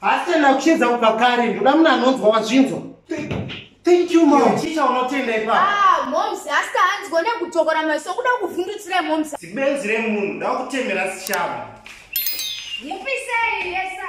Hasa na kucheza ukakari ndoda mna anonzwa wazvinzwa. Thank you mom. Chicha unotenda ipa. Ah mom sasta hanzi gone kutokora maso kuda kuvhundutsira mom. Sibenzi re munhu nda kutemera sishama. Mupisei yesa.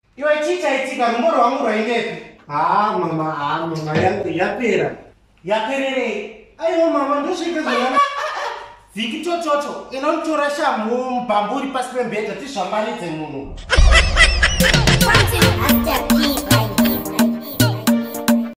Iwe chii chaitika rumbo rwangu rwaingepi? Haa mama haa mama yangu yapera. Yapererei? Aiwa mama ndosvika zvona. Viki chochocho inotora shamhu mubhambu uri pasi pembhedha tizvambaridze munhu.